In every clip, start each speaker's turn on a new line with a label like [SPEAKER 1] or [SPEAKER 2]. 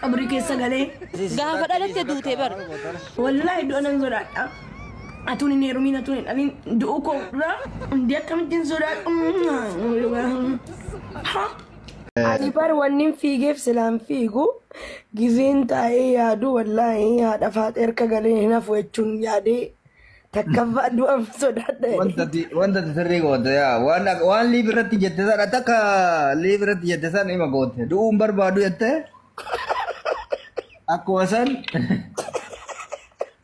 [SPEAKER 1] Qabrii keessa galee. Gaafa dhalatte
[SPEAKER 2] duute bar. Wallaahi du'a
[SPEAKER 1] nan sodaadha. Atuun hin heerumiin atuun hin dhalin du'uu koo dura hundi akkamittiin sodaadhu. Ha? Ani bar wannin fiigeef silaan fiigu gizeen taa'ee yaadu wallaahi haadha faaxee harka galee hin hafu jechuun yaadee Takkaffaan du'an sodaadha. Wanta ti- wanta ti
[SPEAKER 3] sirrii goote yaa waan ak- waan liif irratti jette san ati akka liif irratti jette san ima goote du'uun barbaadu jette akkuma san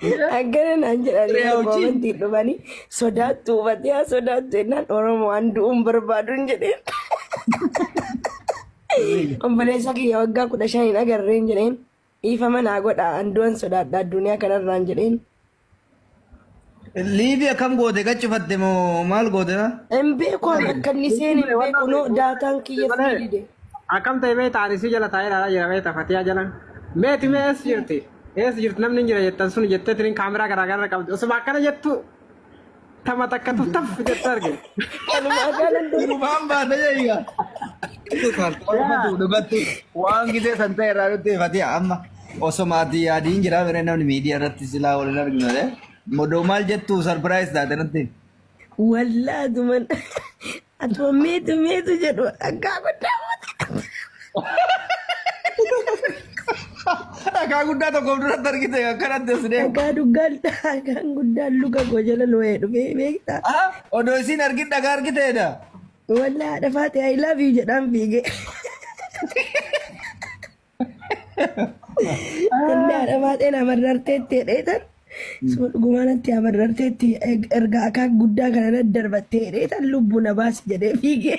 [SPEAKER 1] Akkana naan jedhanii Reeyaa wajjin. koomantii dhufanii sodaattu hubatee haa sodaattu jennaan Oromoo waan du'uun barbaaduun jedheen. Obboleessa kiyya waggaa kudha shaniin agarreen jedheen. Dhiifama naa godhaa an du'an sodaadha adduniyaa kanarraan jedheen.
[SPEAKER 3] Liivi akkam goote qachifatte moo maal goote na? Hin beeku ani
[SPEAKER 1] akka inni seen hin beeku noo daataan kiyya sii dide. Akkam ta'e beekta
[SPEAKER 4] ani si jala taa'ee ilaalaa jira beekta fatiyaa jala. Meeti mee eessa jirti? Eessa jirti namni hin jira jettan sun jetteetiin kaameraa garaa garaa qabdi. Osuma akkana jettu Tama takka tuttaf jette arge. Kanumaa gaalan deemu.
[SPEAKER 3] Durubaan baata jeeya. Dhugatti waan gisee san ta'e irraa nutti hifatee amma osoo maatii yaadiin jira miree namni miidiyaa irratti silaa waliin arginu ta'e. Modoo maal jettu sarpiraayis taate nutti. Wallaa
[SPEAKER 1] duman Atuma meetu meetu jedhu dhagaa guddaa
[SPEAKER 3] Dhagaa guddaa tokkoof duratti argite akkanatti as deemu. dhagaa duggal dhagaan
[SPEAKER 1] guddaan luka koo jala looyee dhufee beektaa. Ah, Odoo isiin
[SPEAKER 3] argin dhagaa argiteedha. Walaa
[SPEAKER 1] dhafaate I love you jedhaan fiigee. Inni haadha baay'een amarrarteetti jedheetan suma dhugumaanatti amarrarteetti erga akaa guddaa kana irra darbattee jedheetan lubbu na baasi jedhee fiigee.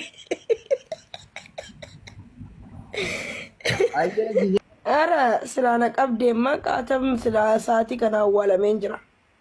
[SPEAKER 1] Ayyee jijee. Ara silaa na qabdeemma qaatam silaa sa'aatii kana awwaalameen jira.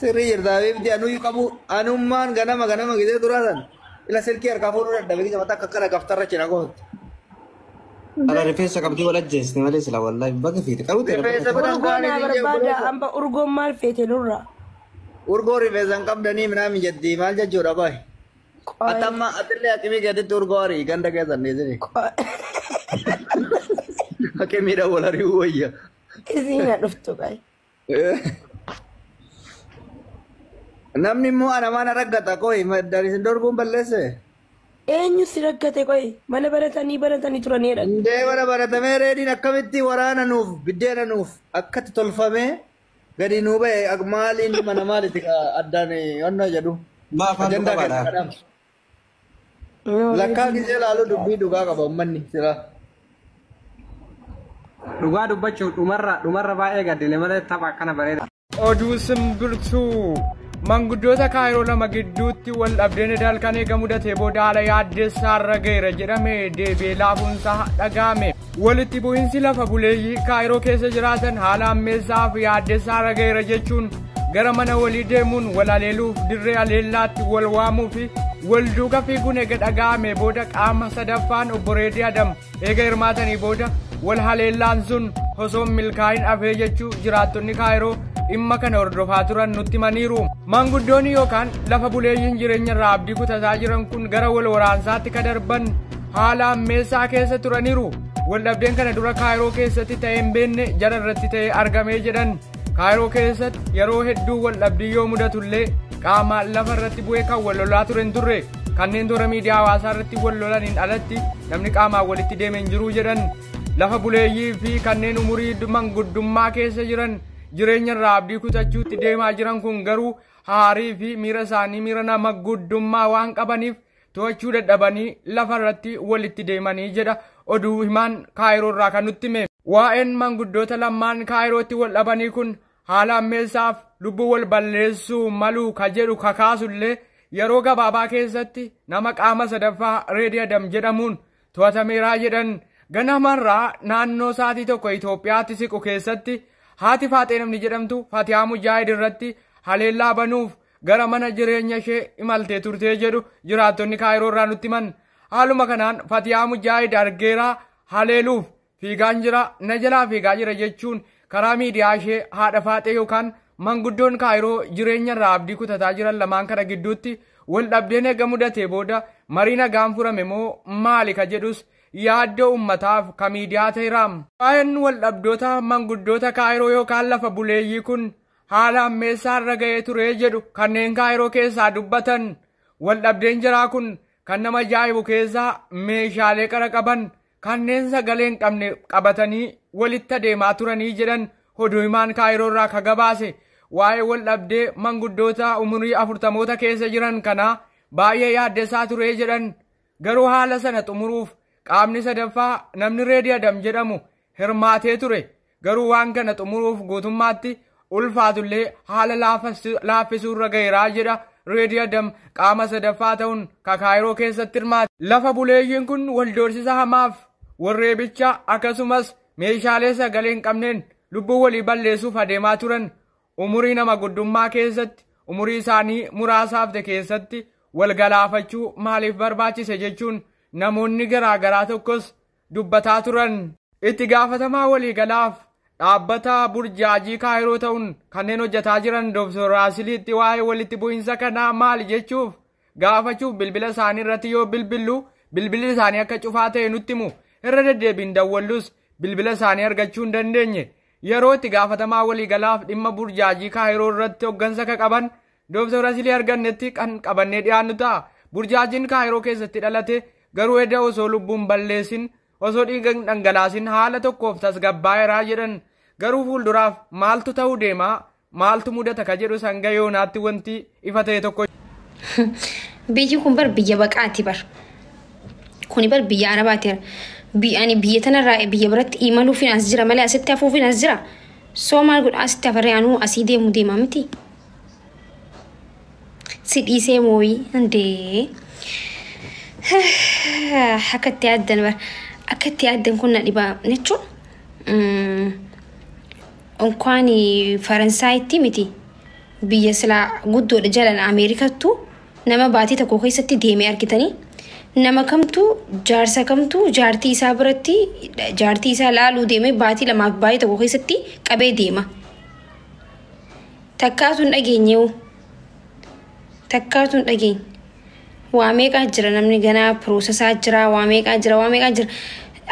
[SPEAKER 3] Sirrii jirta habiibti anuyyuu qabu anummaan ganama ganama gisee duraa san ila silkii harkaa fuudhuu dadhabe gisa mataa akka kana gaftarra china gootti.
[SPEAKER 4] Ala rifeensa qabdii wal ajjeesne malee sila wallahi baga fiite qabu ta'e Rifeensa bira hin Urgoo kaane naa
[SPEAKER 1] biyya barbaada obboleessa. amma urgoon maal feete nurraa. Urgoo
[SPEAKER 3] rifeensa hin qabdanii minaa mijattii maal jechuudha baay. Qoy- Ati amma atillee akimii gaditti urgoo arii ganda keessan dhiisini. qoy- Akimiidha wal ari'uu wayya. Isiin na
[SPEAKER 1] dhuftu qayi.
[SPEAKER 3] Namni immoo ana mana raggata qoy maddan isin dorguun balleesse. Eenyu
[SPEAKER 1] si raggate qoy mana baratanii baratanii turanii jedhan. Hundee mana baratamee
[SPEAKER 3] reediin akkamitti waraana nuuf biddeena nuuf akkatti tolfamee gadi nuu ba'e maaliin mana maaliti addaan onna jedhu. Maaf halluu Ajandaa keessa qabaadha? kadhaaf. Lakkaa gisee laaluu dubbii dhugaa qaba ummanni silaa.
[SPEAKER 4] Dhugaa dubbachuuf dhumarra dhumarra baay'ee gaddine malee tapha akkana bareeda. Oduu
[SPEAKER 5] simbirtuu manguddoota kaayiroo lama gidduutti wal dhabdeen edaal kan eegamu datee booda haala yaaddessaarra ga'eera jedhame deebi'ee laafuunsaa dhaga'ame. Walitti bu'insi lafa buleeyyii Kaayiroo keessa jiraatan haala ammeessaa fi yaaddessaa irra ga'eera jechuun gara mana walii deemuun wal aleeluuf dirree aleellaatti wal waamuu fi wal duuka fiiguun eega dhaga'ame booda qaama sadaffaan obbo Reedii Adam eega hirmaatanii booda wal haleellaan sun osoo milkaa'in afee jechuu jiraattonni Kaayiroo dhimma kana hordofaa turan nutti himaniiru. Maanguddoonni yookaan lafa buleeyyiin jireenya irraa abdii kutataa jiran kun gara wal waraansaatti ka darban haala ammeessaa keessa turaniiru waldhabdeen kana dura kaayiroo keessatti ta'ee hin beekne jara irratti ta'ee argamee jedhan kaayiroo keessatti yeroo hedduu waldhabdii yoo mudatullee qaama lafa irratti bu'ee kan wal lolaa ture hin turre kanneen toora miidiyaa hawaasaa irratti wal lolaniin alatti namni qaamaan walitti deeme hin jiru jedhan lafa buleeyyii fi kanneen umurii manguddummaa keessa jiran jireenya irraa abdii kutachuutti deemaa jiran kun garuu haarii fi miira isaanii miira nama guddummaa waan qabaniif to'achuu dadhabanii lafa irratti walitti deemanii jedha oduu himaan kaayiroo irraa kan nutti hime. Waa'een manguddoota lammaan kaayirootti wal dhabanii kun haala ammeessaaf lubbuu wal balleessuu maluu ka jedhu kakaasullee yeroo gabaabaa keessatti nama qaama sadaffaa reediyadam jedhamuun to'atameeraa jedhan ganamarraa naannoo sa'aatii tokko Itoophiyaatti siqu keessatti haati faaxee namni jedhamtu Fatiyaa Mujaahid irratti haleellaa banuuf gara mana jireenya ishee imaltee turtee jedhu jiraattonni kaayiroo irraa nutti himan haaluma kanaan Fatiyaa Mujaahid argeeraa haleeluuf fiigaan jira, na jalaa fiigaa jira jechuun karaa miidiyaa ishee haadha faaxee yookaan manguddoon kaayiroo jireenya irraa abdii kutataa jiran lamaan kana gidduutti wal dhabdeen eega mudatee booda marii nagaan furame moo maali ka jedhus yaaddoo ummataaf ka miidiyaa ta'eera. Waa'een wal dhabdoota manguddoota kaayiroo yookaan lafa buleeyyii kun haala ammeessaa irra ga'ee ture jedhu kanneen kaayiroo keessaa dubbatan wal dhabdeen jiraa kun kan nama ajaa'ibu keessaa meeshaalee qara qaban Kanneen sagalee hin qabne qabatanii walitti adeemaa turanii jedhan oduu himaan kaayiroo irraa ka gabaase waa'ee wal dhabdee manguddoota umurii afurtamoota keessa jiran kanaa baay'ee yaaddessaa turee jedhan garuu haala sana xumuruuf qaamni sadaffaa namni reediyadam jedhamu hirmaatee ture Garuu waan kana xumuruuf guutummaatti ulfaatullee haala laaffisuurra gaheeraa jedha Reedii Adam qaama sadaffaa ta'uun Kakaayiroo keessatti hirmaate. Lafa buleeyyiin kun wal doorsisa hamaaf warreebicha akkasumas meeshaalee sagalee hin qabneen lubbuu walii balleessuuf adeemaa turan umurii nama guddummaa keessatti umurii isaanii muraasa hafte keessatti wal galaafachuu maaliif barbaachise jechuun namoonni garaagaraa tokkos dubbataa turan. Itti gaafatamaa waliigalaaf dhaabbata burjaajii kaayiroo ta'uun kanneen hojjetaa jiran Dr. Raasiliitti waa'ee walitti bu'iinsa kanaa maali jechuuf gaafachuuf bilbila isaanii irratti yoo bilbillu bilbilli isaanii akka cufaa ta'e nutti himu irra deddeebiin dawwallus bilbila isaanii argachuu hin dandeenye yeroo itti gaafatamaa waliigalaaf dhimma burjaajii kaayiroo irratti hoggansa ka qaban Dooktar Asilii argannetti kan qabannee dhiyaannu ta'a. Burjaajiin Kaayiroo keessatti dhalate garuu edda osoo lubbuun balleessin osoo dhiiga hin dhangalaasin haala tokkoof tasgabbaa'eeraa jedhan garuu fuulduraaf maaltu ta'uu deemaa maaltu mudata ka jedhu sanga yoonaatti wanti ifa ta'e tokko.
[SPEAKER 6] Biyyi kun bar biyya baqaati bar. Kuni bar biyya arabaati bar. Ani biyya tanarraa biyya biratti imaluufin as jira malee asitti hafuufin as jira. Soo maal godha asitti afarree anuu asii deemu deema miti. Si dhiisee mooyii hundee. Akka itti yaaddan bara. Akka itti yaaddan kun na dhibaa jechuun onkwaan Faransaayitti miti biyya silaa guddoodha jalan Ameerikattu nama baatii tokko keessatti deemee argitanii nama kamtu jaarsa kamtu jaartii isaa biratti jaartii isaa laaluu deemee baatii lamaaf baatii tokko keessatti qabee deema. Takkaatu hin dhageenye hoo? Takkaatu hin dhageenye. Waa meeqaa jira namni ganaa piroosesaa jira waa meeqaa jira waa meeqaa jira.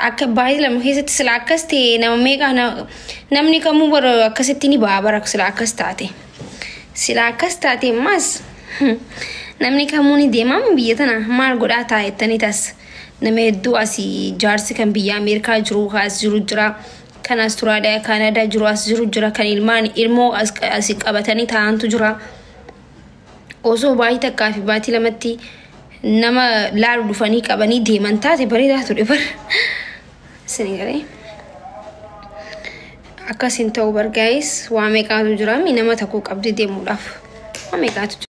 [SPEAKER 6] Akka baay'ee lama keessatti sila akkas ta'e nama meeqaa na- namni kamuu bara akkasitti ni ba'a bara sila akkas taate. Sila akkas taate ammaas namni kamuu ni deemamu biyya tana maal godhaa taa'e jettanii tas nama hedduu asii jaarsi kan biyya Ameerikaa jiru kaas jiru jira. kan Australia, Canada jiru as jiru jira kan ilmaan ilmoo as as qabatanii taa'antu jira. Osoo baatii takkaa fi baatii lamatti nama laalu dhufanii qabanii deeman taate bareedaa ture bar. Isin garee. Akkas hin ta'u bar guys waa meeqaatu jira mi nama tokko qabdee deemuudhaaf. Waa meeqaatu jira.